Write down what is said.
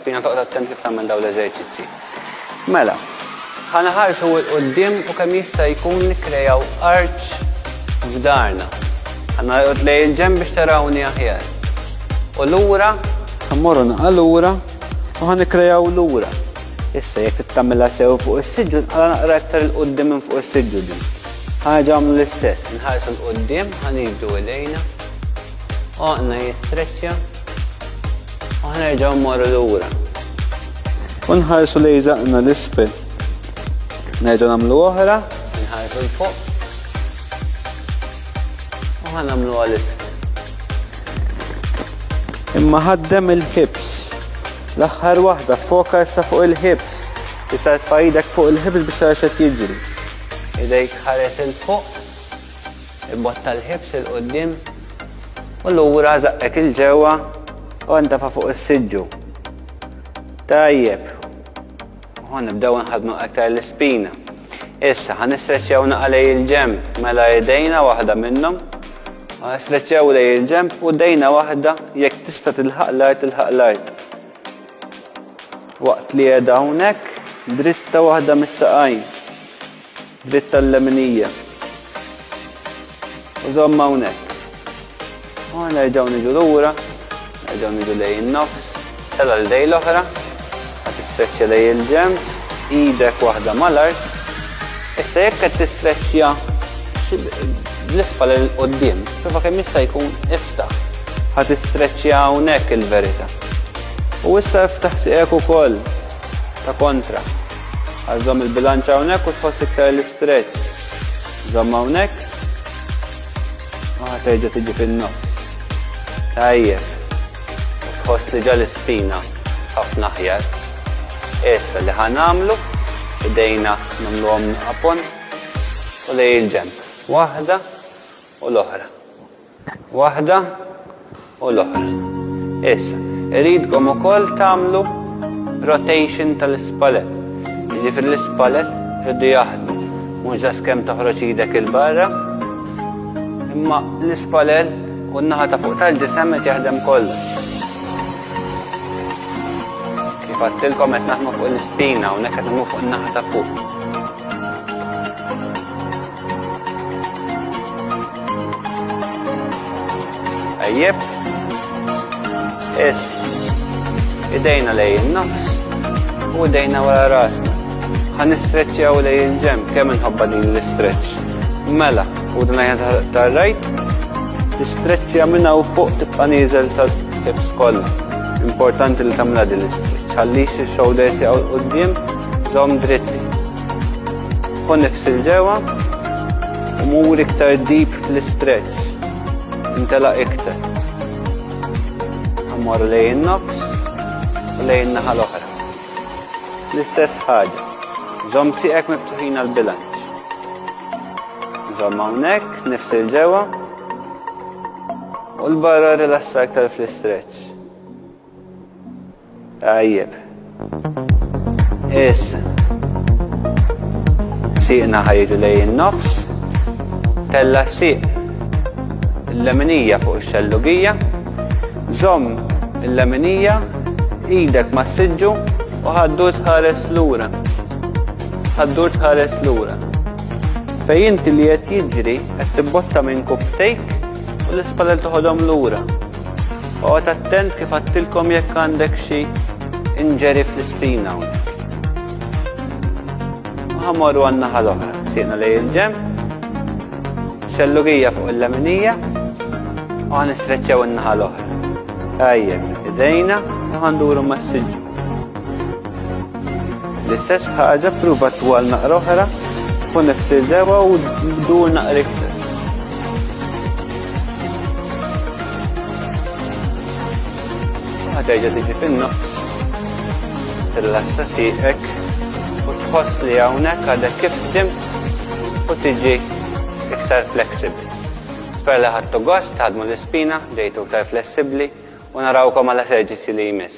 Spina toqgħod attent kif tagħmel dawn l-eżerċizzi. Mela, ħana ħarsu l-qoddim u kemm jista' jkun nikkrejaw arċ f'darna. Ħana jqod lej il-ġem biex tarawni aħjar. U lura, ħammorru naqa' lura u ħan nikkrejaw lura. Issa jekk tittamilha sew fuq is-siġġu nqala naqra iktar il-qoddim minn fuq is-siġġu din. Ħaġa għamlu l-istess, nħarsu l-qoddim, ħan jibdu idejna, oqna jistreċċja, U ħnerġgħu mmorru lura. U nħarsu li jżaqna l-isfel. Nerġgħu nagħmlu oħra. Nħarsu l-fuq. U ħanamlu għal-isfel. Imma ħaddem il-hips. L-aħħar waħda foka issa fuq il-hips. Tista' tfajdek fuq il-hips biex tara xed jiġri. Idejk ħares il-fuq. Ibotta l-ħibs 'il quddiem u lura żaqqek 'il ġewwa u ntefa' fuq is-siġġu. Tajjeb. U ħa nibdew inħaddnu aktar l-ispina. Issa ħa nistreċċjaw naqa' lejn il-ġenb mela idejna waħda minnhom. U ħa stretċjaw lejn il-ġenb u dejna waħda jekk tista' tilħaq l-art tilħaq l-art. Waqt li qiegħda hawnhekk dritta waħda mis-saqajn. Bit tal-leminija. U zomma hawnhekk. U nerġgħu niġu lura, nerġgħu niġu lej in-nofs, tela l dej l-oħra, ħa tistreċċja lej il-ġem, idek waħda mal-art. Issa jekk qed tistreċċja bl-isfal il qoddim prova kemm jista' jkun iftaħ. Ħa tistreċċja hawnhekk il-verità. U issa iftaħ sieqek ukoll ta' kontra. Għal żomm il-bilanċ hawnhekk u tħoss iktar l-istretch. Żomm hawnhekk. U ħaterġa' tiġi fin-nofs. Tajjeb. Tħoss li ġa l-ispina ħafna aħjar. Issa li ħan għamlu, idejna nagħmluhom apon u lej il-ġenb. Waħda u l-oħra. Waħda u l-oħra. Issa, iridkom ukoll tagħmlu rotation tal-ispalet. Jiġifieri l-ispalet irridu jaħdmu. Mhux ġas kemm toħroġ idek il-barra, imma l-ispalel u n-naħa ta' fuq tal-ġisem qed jaħdem kollu. Kif għattilkom qed naħdmu fuq l-ispina u nekk qed fuq in-naħa ta' fuq. Ejjeb. Is. Idejna lej nofs u idejna wara rasna. Ħan istreċċjaw lej il-ġem kemm inħobba din l-istreċċ. Mela, u din għajna tar-rajt, tistreċċja minna u fuq tibqa' nieżel sa tib skoll. Importanti li tagħmilha din l-istreċċ. Ħallix ix-shoulders jaqgħu quddiem, żomm dritti. Pon nifsi l-ġewa u mur iktar deep fl-istretch. Intela iktar. Ammor lejn nofs u lejn naħa l-oħra. L-istess ħaġa. Zom siqek miftuħin għal-bilanċ. Zom għawnek, nifsi l-ġewa u l-barra rilassa iktar fl-istretch. Tajjeb. Issa. Siqna ħajġu lej in-nofs. Tella siq il-leminija fuq ix-xellugija. Żomm il-leminija idek ma' siġġu u ħaddu tħares lura. Ħaddu tħares lura. Fej inti li qed jiġri qed tibbotta minn kubtejk u l-ispallel toħodhom lura. Oqgħod attent kif għattilkom jekk għandek xi inġeri fl-ispina hawnhekk. Ħamorru għan-naħa l-oħra, sieqna lej il-ġemp, xellugija fuq il-leminija, u għan istreċċew in-naħa l-oħra. Tajjeb, idejna u ħanduru massiġġu. L-istess ħaġa pruva twal naqra oħra u nifsi dewa u dur naqra iktar. Għadajġa tiġi fin-nofs, tillassa siqek u tħoss li hawnhekk għadek kif tim u tiġi iktar flexibbli. Nisper li ħadtu gost, ħadmu l-ispina, ġejtu ktar flessibli u narawkom għal eserġizzi li jmiss.